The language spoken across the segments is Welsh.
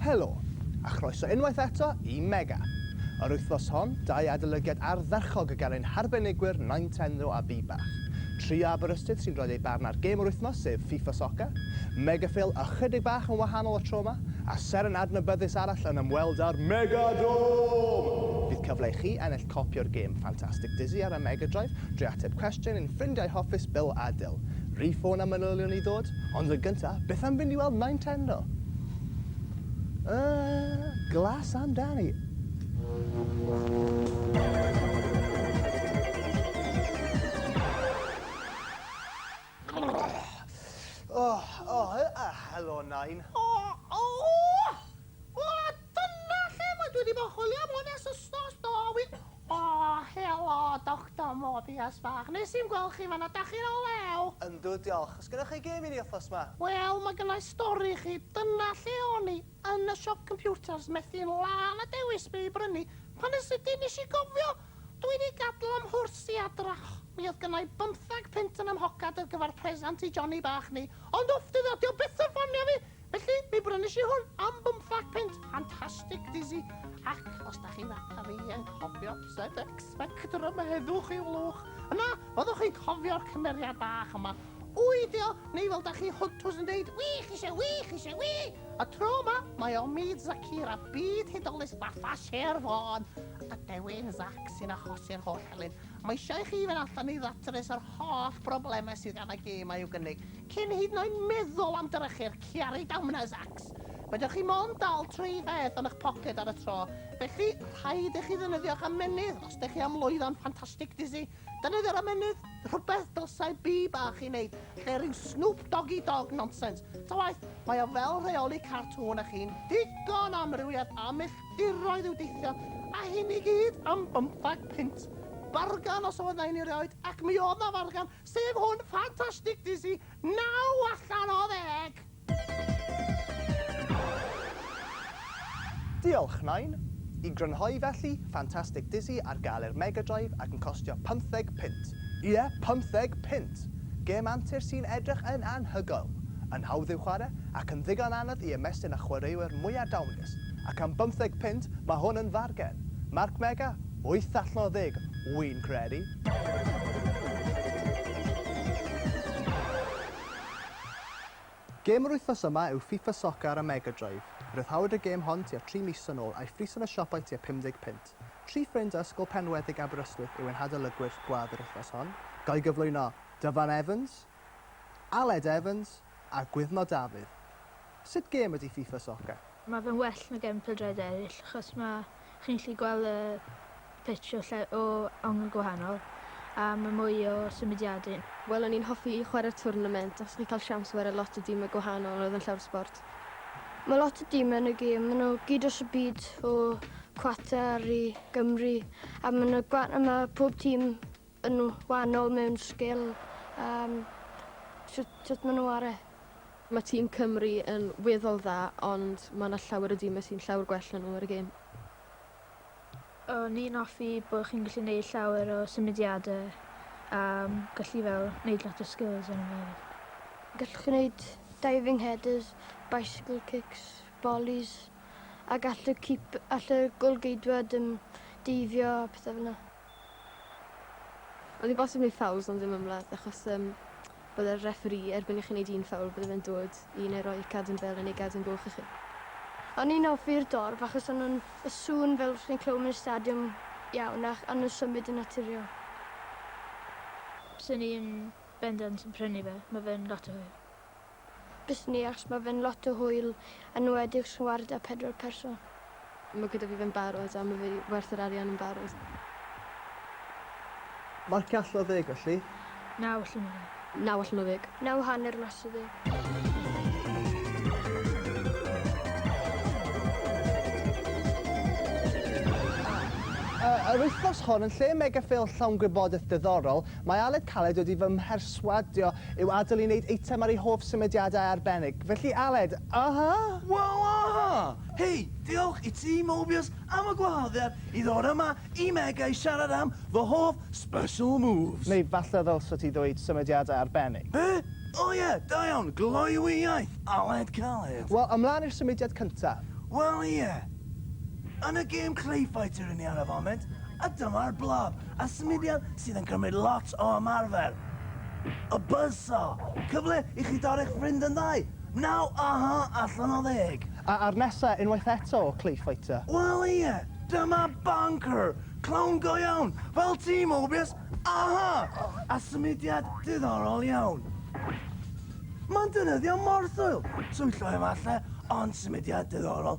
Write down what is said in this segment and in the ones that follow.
Helo, a chroeso unwaith eto i Mega! Yr wythnos hon, dau adolygiad ardderchog gan ein harbenigwyr Nintenro a Bibach. Trio Aberystwyth sy'n rhoi eu barn ar gêm yr wythnos, sef FIFA Soccer. Megaphil ychydig bach yn wahanol y tro 'ma. A seren adnabyddus arall yn ymweld â'r Megadome! Bydd cyfle i chi ennill copi o'r gêm ffantastig Dizzy ar y Mega Drive drwy ateb cwestiwn ein ffrindiau hoffus Bill a Dil. Rhyw ffôn a manylion i ddod? Ond yn gyntaf, beth am fynd i weld Nintendo? Yy, glas amdani! O! O! Helo, Nain. O! O! O! Dyna lle mae dwi 'di bod yn chwilio am hwn ers wsnos, do, wir. O! Helo, Doctor Morbius bach. Nes i'm gweld chi fan'na. Dach chi'n o lew? Yndw, diolch. Oes gennoch chi gêm i ni wythnos 'ma? Wel, mae gynna i stori i chi. Dyna lle o'n i, yn y siop computers, methu'n lân a dewis be' i brynu, pan yn sydyn nes i gofio! Dw i 'di gadl ym mhwrs i adrach. Mi oedd gynna i bymthag punt yn 'y mhocad ar gyfer presant i Johnny bach ni, ond wff, dydd o, 'di o byth yn ffonio fi! Felly, mi brynish i hwn am bymthag punt, ffantastig dizzy, ac os dach chi fatha fi yn cofio set X-Spectrum, heddwch i'w lwch, yna fyddwch chi'n cofio'r cymeriad bach yma. Ŵy, 'di o, neu fel dach chi hwntws yn deud, ŵy, chi isie ŵy, chi isie ŵy! Y tro yma, mae o myd Zakira, byd hudolus fatha Sher Fôn! Ydw i'n Zac sy'n achosi'r holl helynt? Mae eisiau i chi fynd allan i ddatrys yr holl broblemau sydd gan y gêm a'u gynnig, cyn hyd yn oed meddwl am drechu'r Chiari Damnau Zacs! Fedrwch chi mond dal tri pheth yn eich poced ar y tro, felly rhaid i chi ddefnyddio'ch ymennydd os dych chi am lwyddo'n Fantastic Dizzy! Defnyddio ramennydd, rhywbeth dylsai bi bach ei wneud, lle rhyw Snoop Doggy Dogg nonsens. Ta waeth, mae o fel rheoli cartŵn a chi'n ddigon o amrywiaeth a milltiroedd i'w deithio, a hyn i gyd am bymthag punt! Bargan os oedd 'na un erioed, ac mi oedd 'na fargan, sef hwn, Fantastic Dizzy, naw allan o ddeg! Diolch, Nain! I grynhoi felly, Fantastic Dizzy ar gael ar Mega Drive ac yn costio pymtheg punt! Ie, pymtheg punt! Gêm antur sy'n edrych yn anhygoel, yn hawdd i'w chwarae ac yn ddigon anodd i ymestyn â chwaraewyr mwy adawnus, ac am bymtheg punt, mae hwn yn fargen! Marc Mega? Wyth allan o ddeg, wi'n credu! Gêm yr wythnos yma yw FIFA Soccer ar y Mega Drive. Rhyddhawyd y gêm hon tua tri mis yn ôl a'i phris yn y siopau tua 50 punt. Tri ffrind o Ysgol Penweddig Aberystwyth yw ein hadolygwyr gwadd yr wythnos hon, gan gyflwyno Dyfan Evans, Aled Evans a Gwyddno Dafydd. Sut gêm ydy FIFA Soccer? Ma fe'n well na gefn pêl-droed eryll achos ma' chi'n gallu gweld y pitch o lle- o angl gwahanol a ma' mwy o symudiade. Wel o'n i'n hoffi chwarae'r twrnament achos chi'n cael siawns ware lot o dime gwahanol oedd yn llawr sbort. Ma lot o dime yn y gêm, ma nhw gyd dros y byd o Qatar i Gymru a ma na gwa- a ma pob tîm yn wahanol mewn sgil yym shwt shwt ma' nw ar e. Mae tîm Cymru yn weddol dda ond mae 'na llawer o dîmau sy'n llawer gwell na nhw ar y gêm. O'n i'n offi bo' chi'n gallu neud llawer o symudiade a gallu fel neud lot o skills yno fe efyd. Gallwch chi neud diving headers, bicycle kicks, volleys a gall y keep- all y gôl-geidwad yym deifio a pethe fel 'na. Oedd hi bosib neud ffowls ond ddim ymladd achos yym bydde'r referi erbyn i chi neud un ffoul bydde fe'n dod i neu roi cadw'n bel neu gadw'n goch i chi. O'n i'n offi'r dorf achos o'n nhw'n y sŵn fel os chi'n clywed mewn stadiwm iawn ac o'n nhw'n symud yn naturiol. Swn i yn bendant yn prynu fe, ma fe'n lot o hwyl. busnias ma' fe'n lot o hwyl enwedig os chi'n wario 'da pedwar person. Ma' gyda fi fe'n barod a ma' fe werth yr arian yn barod. Marcia allan o ddeg felly? Naw allan o ddeg. Naw allan o ddeg. Naw hanner mas o ddeg. Yy yr wythnos hon yn lle mega ffeil llawn gwybodeth diddorol Mae Aled Caled wedi fy mherswadio i'w adael i wneud eitem ar ei hoff symudiadau arbennig. Felly Aled, aha! Waw aha! Hei, diolch i ti Mobius am y gwahoddiad i ddod yma i Mega i siarad am fy hoff special moves. Neu falle ddylse ti ddweud symudiadau arbennig. Be? O ie, da iawn, gloywi iaith, Aled Caled. Wel, ymlaen i'r symudiad cyntaf. Wel ie. Yn y gêm Clay Fighter 'yn ni ar y foment, a dyma'r blab. a symudiad sydd yn cymryd lot o ymarfer. Y bysa cyfle i chi dorri'ch ffrind yn ddau, naw aha allan o ddeg. A a'r nesa unwaith eto o Clay Fighter? Wel ie, dyma Banker, clown go iawn, fel ti Mobius, aha! A symudiad diddorol iawn. Mae'n defnyddio morthwyl, twyllo efalle, ond symudiad diddorol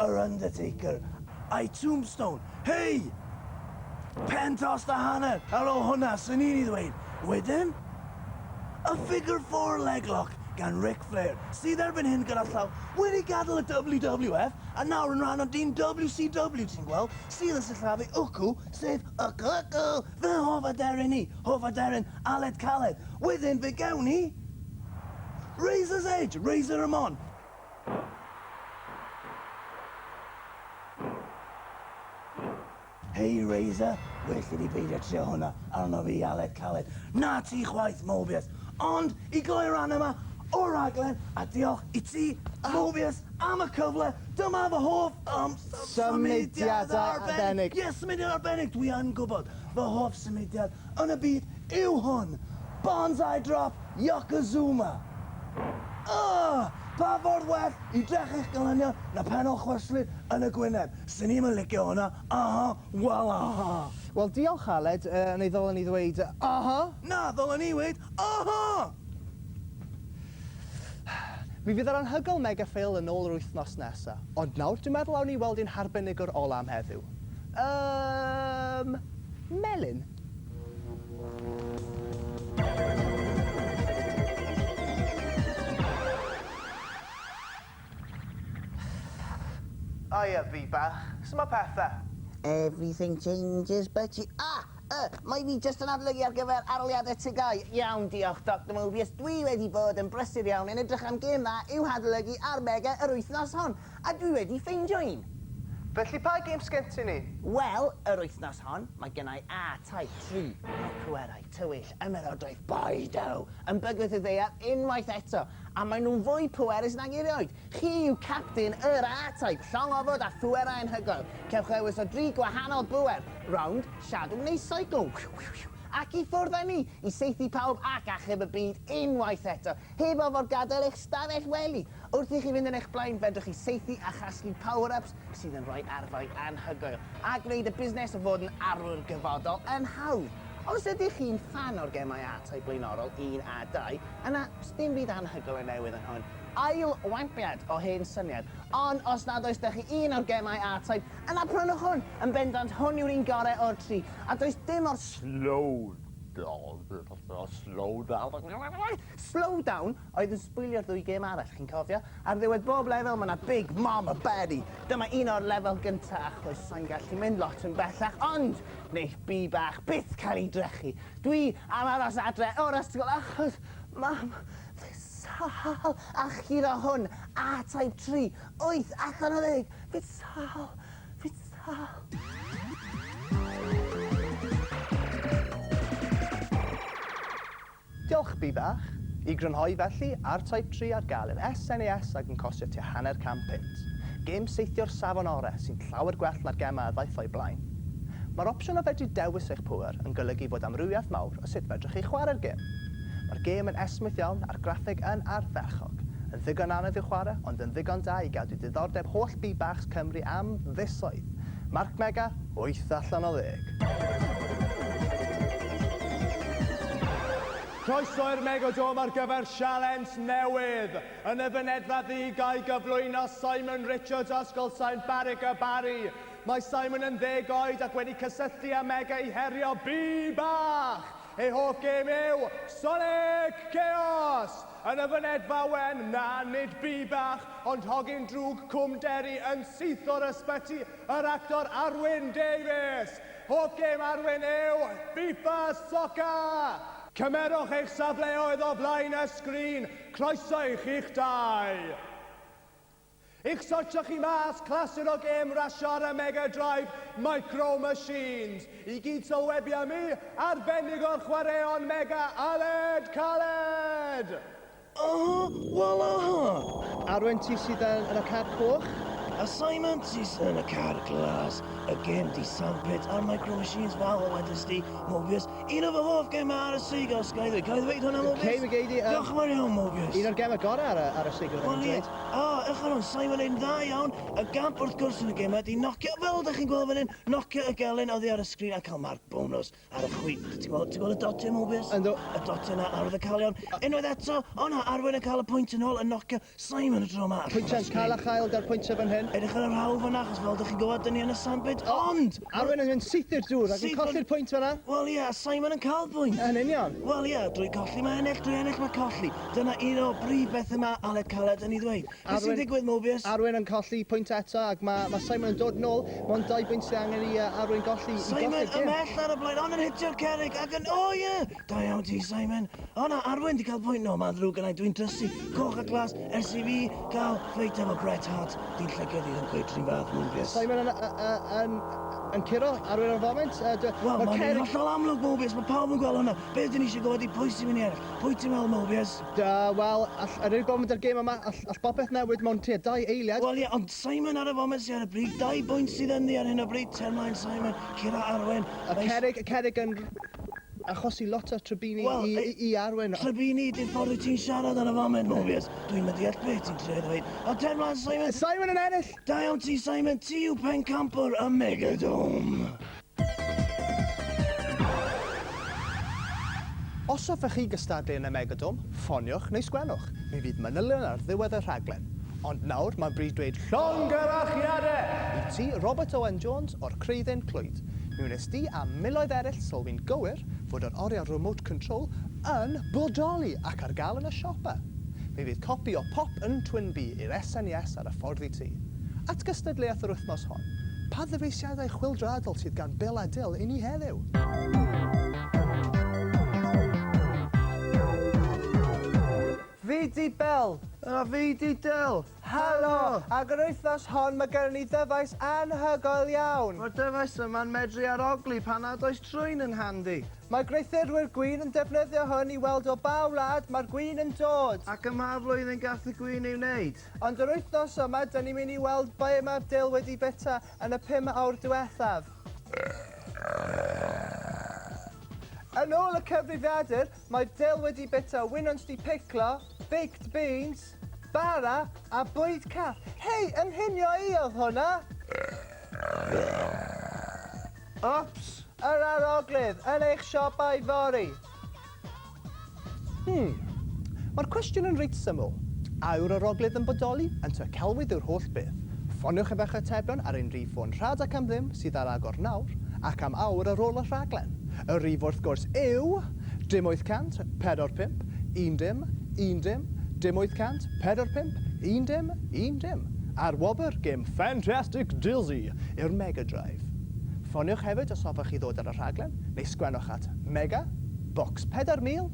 Yr Undertaker a'i Tombstone. Hei! Pen tost a hanner ar ôl hwnna, swn i'n ei ddweud. Wedyn, y Figure Four Leglock gan Ric Flair, sydd erbyn hyn gyda llaw, wedi gadael y WWF a nawr yn rhan o dîm WCW, ti'n gweld, sydd yn sillafu Ucw, sef Ucw Ucw, fy hoff aderyn i, hoff aderyn Aled Caled. Wedyn, fe gewn ni Razor's Edge, Razor Ramon. Hei Razor, well i fi beidio trio hwnna arno fi Aled Caled. Na ti chwaith Mobius! Ond, i gloi'r ran yma o'r rhaglen, a diolch i ti, Mobius, am y cyfle, dyma fy hoff yym symudiad arbennig! Ie, symudiad arbennig, dwi yn gwybod! Fy hoff symudiad yn y byd yw hwn! Bonsai drop Yokozuma! Ugh! Pa ffordd well i drechu eich gelynion na pen o chwyslyd yn y gwyneb? Swn i'm yn licio hwnna! Aha! Wel aha! Wel diolch Aled, yy neu ddylen i ddweud aha! Na, ddylen i weud aha! Mi fydd yr anhygoel Mega Fail yn ôl yr wythnos nesa. Ond nawr dwi'n meddwl awn ni weld ein harbenigwr ola am heddiw. Yym! melyn. Haia, fi bach. Suma pethe? Everything changes but you. Ah! Y! Mae fi jyst yn adolygu ar gyfer aroliadau tygau. Iawn, diolch, Doctor Mobius. Dwi wedi bod yn brysur iawn yn edrych am gêm dda i'w hadolygu ar Mega yr wythnos hon. A dwi wedi ffeindio un! Felly pa gêms sgen ti i ni? Wel, yr wythnos hon, mae gennai A Type tri, mae pwerau tywyll ymerodraeth Boydo yn bygwth y ddaear unwaith eto, a maen nhw'n fwy pwerus nag erioed! Chi yw capten yr A Type, llong ofod a phwerau anhygoel. Cewch ddewis o dri gwahanol bwer, rownd, shadow neu cycle. Wiw wiw wiw! Ac i ffwrdd â ni, i saethu pawb ac achub y byd unwaith eto! Heb orfod gadael eich stafell wely! Wrth i chi fynd yn eich blaen, fedrwch chi saethu a chasglu power-ups sydd yn rhoi arfau anhygoel, a gwneud y busnes o fod yn arwr gyfodol yn hawdd! Os ydych chi'n ffan o'r gemau ATOY blaenorol un a dau, yna sdim byd anhygoel o newydd yn hwn, ail wampiad o hen syniad! Ond os nad oes 'da chi un o'r gemau ATOY, yna prynwch hwn! Yn bendant hwn yw'r un gorau o'r tri, a does dim o'r Sloan! Slowdown oedd yn sbwylio'r ddwy gêm arall, chi'n cofio? Ar ddiwedd bob lefel mae 'na Big Mama Betty! Dyma un o'r lefel gynta' achos sai'n gallu mynd lot yn bellach ond neith Bee bach byth cael ei drechu! Dwi am aros adre o'r ysgol achos mam fi sâl achub o hwn! A-type tri wyth allan o ddeg! Fi'n sâl! Fitha! Diolch, Bi Bach. I grynhoi felly, ar Type Tri ar gael yn SNES ac yn costio tua hanner can punt. Gêm saethio'r safon orau sy'n llawer gwell na'r gemau a ddaeth o'i blaen. Mae'r opsiwn o fedru dewis eich pŵer yn golygu fod amrywiaeth mawr o sut fedrwch chi chwarae'r gêm. Mae'r gêm yn esmwyth iawn a'r graffeg yn ardderchog. Yn ddigon anodd i'w chwarae ond yn ddigon da i gadw diddordeb holl Bibachs Cymru am fisoedd. Marc Mega, wyth allan o ddeg. Croeso i'r Megodome ar gyfer sialens newydd! Yn y fynedfa ddu ga'i gyflwyno Simon Richards o Ysgol Sain Barrick y Barri. Mae Simon yn ddeg oed ac wedi cysylltu â Mega i herio Bibach! Ei hoff gêm yw Sonic Chaos! Yn y fynedfa wen, na, nid bŷ bach, ond hogyn drwg Cwm Derry yn syth o'r ysbyty, yr actor Arwyn Davies! Hoff gêm Arwyn yw FIFA Soccer! Cymerwch eich safleoedd o flaen y sgrin, croeso i chi'ch dau! I'ch sortio chi mas clasur o gêm rasio ar y Mega Drive Micro Machines i gyd sylwebu am i arbennig o'r chwaraeon Mega Aled Caled! Aha! Wel aha! Arwen ti sydd yn yn y car coch. A Simon ti sydd yn y car glas. Y gêm 'di sandpit a'r Micro Machines fel y wedest ti, Mobius, Un o fy hoff gemau ar y seigl, sgai ddweud, cael ei ddweud hwnna Morgan? Cei fi gei di, Diolch yn fawr iawn Morgan. Un o'r gemau gorau ar y, ar y seigl ddim yn dweud. O, ewch yn ôl, Simon yn dda iawn. Y gamp wrth gwrs yn y gemau di nocio, fel ydych chi'n gweld fan hyn, nocio y gelyn oddi ar y sgrin a cael marc bonws ar y chwi. Ti'n gweld, ti'n gweld y dotiau Morgan? Yndw. Y dotiau na, arwyddocaol iawn. Unwaith eto, o na, Arwen yn cael y pwynt yn ôl, yn nocio Simon y tro yma. Pwyntiau'n cael a chael da'r pwyntiau fan hyn. Edrych ar yr hawl fanna, achos fel ydych chi'n gwybod, dyn ni yn y sandpit, ond... Arwen yn syth i'r dŵr ac yn colli'r pwynt fanna. Wel ie, a Simon yn cael pwynt. Yn union. Wel ie, drwy colli mae ennill, drwy ennill mae colli. Dyna un o brif bethau mae Aled Caled yn ei ddweud. Beth sy'n digwydd, Mobius? Arwen yn colli pwynt eto ac mae ma Simon yn dod nôl. Mae'n dau bwynt sydd angen i uh, Arwen golli i golli'r gêm. Simon ymhell ar y blaen, ond yn hitio'r cerrig ac yn... O ie! Da iawn ti, Simon. O na, Arwen, di cael pwynt. No, mae'n ddrwg yna, dwi'n drysu. Coch a glas, ers i fi gael ffeit efo Bret Hart. Di'n llygio di yn cweit rhywun fath, Mobius. Simon yn, yn, yn curo, Arwen yn foment. Wel, mae'n cerig... hollol amlwg, Mobius, mae pawb yn gweld hwnna. Be ydyn ni eisiau gwybod i pwy sy'n mynd i eraill? Pwy ti'n meddwl, Mobius? Da, wel, all, er i bob mynd ar gêm yma, all, all bopeth newid mewn tua dau eiliad. Wel, ie, yeah, ond Simon ar y foment sy'n ar y bryd, dau bwynt sydd ynddi ar hyn o bryd, termlaen Simon, curo Arwen. Y cerig, y cerig yn... Achosi lot o trybini i, Wel, i, i Arwen. o- Trybini, di'r ffordd wyt ti'n siarad ar y foment, Mobius. Dwi'm yn deall beth ti'n trio i ddweud. A ten mlaen, Simon! Simon yn ennill! Da iawn ti, Simon. Ti yw pencampwr y Megadome! Os hoffech chi gystadlu yn y Megadome, ffoniwch neu sgwennwch. Mi fydd manylion ar ddiwedd y rhaglen. Ond nawr, mae'n bryd dweud llongyfarchiadau i ti, Robert Owen Jones o'r Creuddyn Clwyd. Mi wnes di a miloedd eraill sylwi'n gywir fod yr oriau remote control yn bodoli ac ar gael yn y siopa. Mi fydd copi o Pop yn Twin Bee i'r SNES ar y ffordd i ti. At gystadleuaeth yr wythnos hon, pa ddyfeisiadau chwyldroadol sydd gan Bill a Dil i ni heddiw? Fi 'di Bill! A fi 'di Dil! Helo! Ac yr wythnos hon mae gennym ni ddyfais anhygoel iawn! Mae'r dyfais yma'n medru ar ogli pan nad oes trwyn yn handi! Mae gweithurwyr gwin yn defnyddio hwn i weld o ba wlad mae'r gwin yn dod! Ac ym mha flwyddyn gall y gwin ei wneud! Ond yr wythnos yma, dyn ni'n mynd i weld ble mae'r dull wedi bwyta yn y pum awr diwethaf! Yn ôl y cyfrifiadur, Mae'r dull wedi bita winwns di piclo, baked beans, bara a bwyd cath. Hei, ynghynio i oedd hwnna! Ups! Yr aroglyd yn eich siopau fory! Hmm. Mae'r cwestiwn yn reit syml. A yw'r aroglyd yn bodoli? Yn Tŷ Celwydd yw'r holl beth. Ffoniwch efo'ch atebion ar ein rhif ffôn rhad ac am ddim sydd ar agor nawr, ac am awr ar ôl y rhaglen. Y rhif wrth gwrs yw, dim 800, pedwar pump, un dim, un dim, dim 800, pedwar pump, un dim, un dim, a'r wobr gêm Fantastic Dizzy i'r Mega Drive. Ffoniwch hefyd os hoffech chi ddod ar y rhaglen, neu sgwennwch at Mega, Bocs 4000,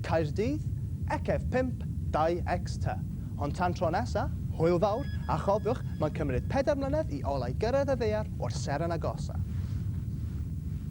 Caerdydd, ecf 52X ty. Ond tan tro nesa, hwyl fawr, a chofiwch, mae'n cymryd pedair mlynedd i olau gyrraedd y ddaear o'r seren agosa.